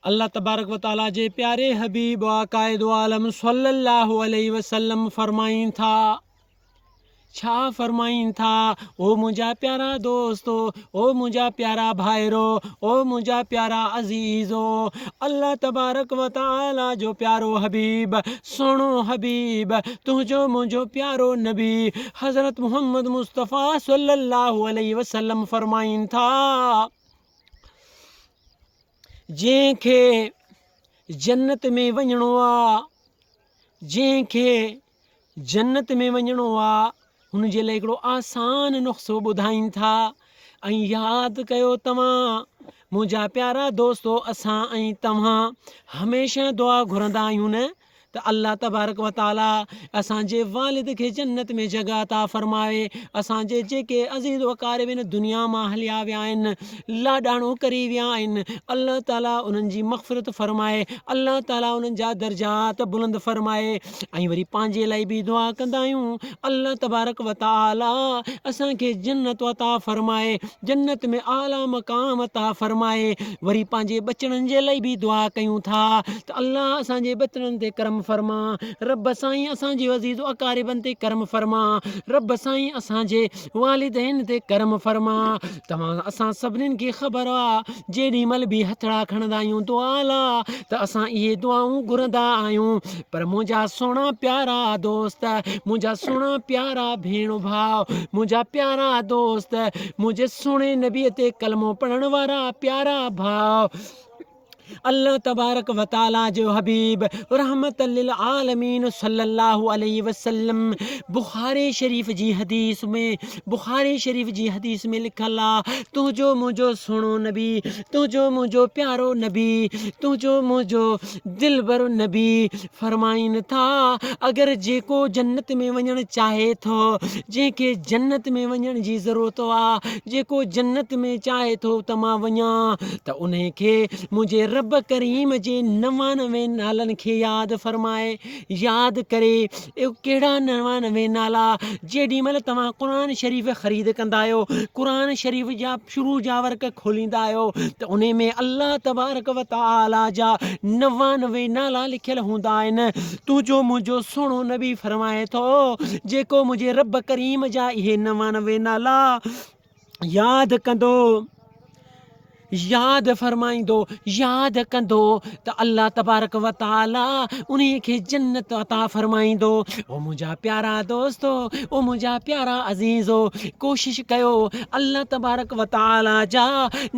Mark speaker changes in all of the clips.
Speaker 1: الله تبارڪ و تعاليٰ جي پياري حبيب آقائدوعالم صلّي اللّٰه عليه وسلّم فرمائين ٿا، ڇا فرمائين ٿا، او منهنجا پيارا دوستو، او منهنجا پيارا ڀائرو، او منهنجا پيارا عزيزو، الله تبارڪ و تعاليٰ جو پيارو حبيب، سهڻو حبيب، تنهنجو منهنجو پيارو نبي حضرت محمد مصطفٰي صلّي اللّٰه عليه وسلّم فرمائين ٿا. جنهن کي جنت ۾ وڃڻو آ جنهن کي جنت ۾ وڃڻو آ هن جي لاء هڪڙو آسان نسخو ٻڌائين ٿا ۽ ياد ڪيو توهان منهنجا پيارا دوستو اسان ۽ توهان هميشه دعا گهرندا آهيون نه ته الله تبارڪ و تعالي اسان جي والد کي جنت ۾ جڳهه عطا فرمائي اسان جي جيڪي عزيز وقارب هن دنيا مان هليا ويا آهن لاڏاڻو ڪري ويا آهن الله تعالي انهن جي مغفرت فرمائي الله تعالي انهن جا درجات بلند فرمائي ۽ وري پنهنجي لاء به دعا ڪندا آهيون الله تبارڪ و تعالي اسان کي جنت عطا فرمائي جنت ۾ اعليٰ مقام عطا فرمائي وري پنهنجي ٻچڙن جي لئي به دعا ڪيون ٿا ته الله اسان جي ٻچڙن تي ڪرم فرما رب سائين اسان جي عزيز و اقاربن تي ڪرم فرما رب سائين اسان جي والدين تي ڪرم فرما توهان اسان سڀنين کي خبر آ جيڏي مھل به ھٿڙا کڻندا آھيون دعا لا ته اسان اھي دعائون گھرندا آھيون پر منهنجا سهڻا پيارا دوست منهنجا سهڻا پيارا ڀيڻ ڀاء منهنجا پيارا دوست منهنجي سهڻي نبي تي ڪلمو پڙهڻ وارا پيارا ڀاء الله تبارڪ و تعالي جو حبيب رحمت للعالمين صلي الله عليه وسلم بخاري شريف جي حديث ۾ بخاري شريف جي حديث ۾ لکل آ تنهنجو منهنجو سهڻو نبي تنهنجو منهنجو پيارو نبي تنهنجو منهنجو دلبر نبي فرمائين ٿا، اگر جيڪو جنت ۾ وڃڻ چاهي ٿو، جنهن کي جنت ۾ وڃڻ جي ضرورت آ، جيڪو جنت ۾ چاهي ٿو ته مان وڃان ته انهي کي منهنجي رب ڪريم جي نوانوي نالن کي ياد فرمائي ياد ڪري اهي ڪهڙا نوانوي نالا جيڏي مهل توهان قرآن شريف خريد ڪندا آهيو قرآن شريف جا شروع جا ورق کوليندا آهيو ته انهي ۾ الله تبارڪ و تعالي جا نوانوي نالا لکيل هوندا آهن تنهنجو منهنجو سهڻو نبي فرمائي ٿو جيڪو منهنجي رب ڪريم جا اهي نوانوي نالا ياد ڪندو ياد فرمائيندو ياد ڪندو ته الله تبارڪ و تعالي انهي کي جنت عطا فرمائيندو او منهنجا پيارا دوستو او منهنجا پيارا عزيزو ڪوشش ڪيو الله تبارڪ و تعالي جا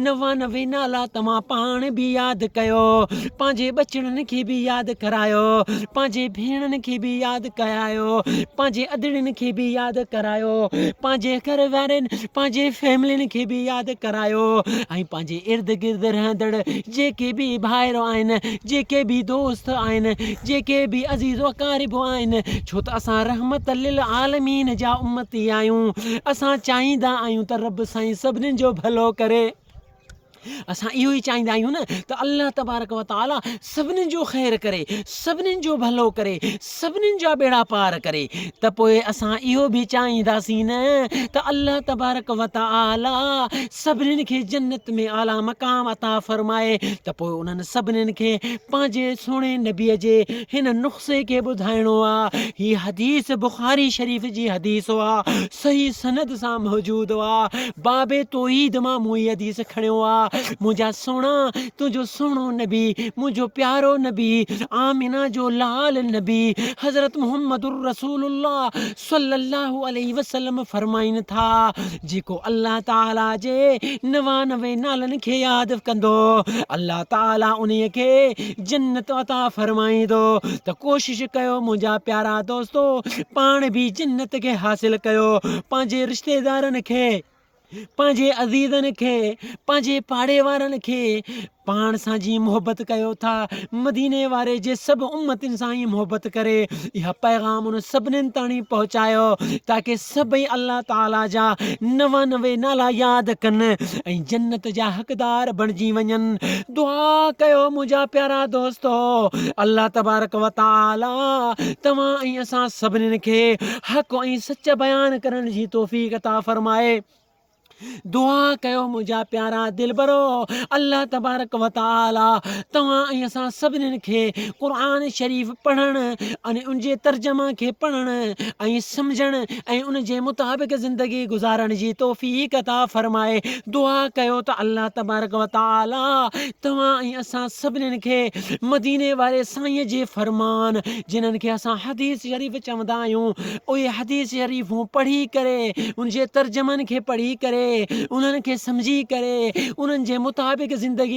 Speaker 1: نوانوي نالا توهان پاڻ به ياد ڪيو پنهنجي ٻچڙن کي به ياد ڪرايو پنهنجي ڀيڻن کي به ياد ڪرايو پنهنجي ادڙين کي به ياد ڪرايو پنهنجي گهر وارين پنهنجي فيملين کي به ياد ڪرايو ۽ پنهنجي ارد گرد رهندڙ جيڪي به ڀائر آهن، جيڪي به دوست آهن، جيڪي به عزيز واقارب آهن، ڇو ته اسان رحمت للعالمين جا امتي آهيون، اسان چاهيندا آهيون ته رب سائين سڀني جو ڀلو ڪري. اسان اهو ئي چاهيندا آهيون نه ته الله تبارڪ وتعاليٰ سڀني جو خير ڪري، سڀني جو ڀلو ڪري، سڀنين جا ٻيڙا پار ڪري ته پوء اسان اهو به چاهينداسين نه ته الله تبارڪ وتعالي سڀنين کي جنت ۾ اعليٰ مقام عطا فرمائي ته پوء انهن سڀنين کي پنهنجي سهڻي نبي جي هن نخسي کي ٻڌائڻو آ هي حديث بخاري شريف جي حديث آ صحيح سند سان موجود آ باب توحيد مان مون هي حديث کڻيو آ منهنجا سهڻا تنهنجو سهڻو نبي، منهنجو پيارو نبي، آمنه جو لال نبي حضرت محمد الرسول الله صلّي الله عليه وسلّم فرمائن ٿا، جيڪو الله تعاليٰ جي نوانوي نالن کي ياد ڪندو، الله تعاليٰ انهي کي جنت عطا فرمائيندو ته ڪوشش ڪيو منهنجا پيارا دوستو پاڻ به جنت کي حاصل ڪيو، پنهنجي رشتيدارن کي. پنهنجي عزيزن کي پنهنجي پاڙي وارن کي پاڻ سان جي محبت ڪيو ٿا مديني واري جي سڀ امتن سان ئي محبت ڪري اها پيغام ان سڀنين تاڻي پهچايو تاڪي سڀئي الله تعاليٰ جا نوانوي نالا ياد ڪن ۽ جنت جا حقدار بڻجي وڃن دعا ڪيو منهنجا پيارا دوستو الله تبارڪ وتعاليٰ توهان ۽ اسان سڀنين کي حق ۽ سچ بيان ڪرڻ جي توفيق عطا فرمائي دعا ڪيو منهنجا پيارا دلبرو الله تبارڪ وتعالي توهان ۽ اسان سڀنين کي قرآن شريف پڙهڻ ان ان جي ترجمه کي پڙهڻ ۽ سمجھڻ ۽ ان جي مطابق زندگي گذارڻ جي توفيق عطا فرمائي دعا ڪيو ته الله تبارڪ وتعالي توهان ۽ اسان سڀنين کي مديني واري سائين جي فرمان جنھن کي اسان حديث شريف چوندا آھيون اھي حديث شريفون پڙھي ڪري ان جي ترجمن کي پڙھي ڪري انھن کي سمجھي ڪري انھن جي مطابق زندگي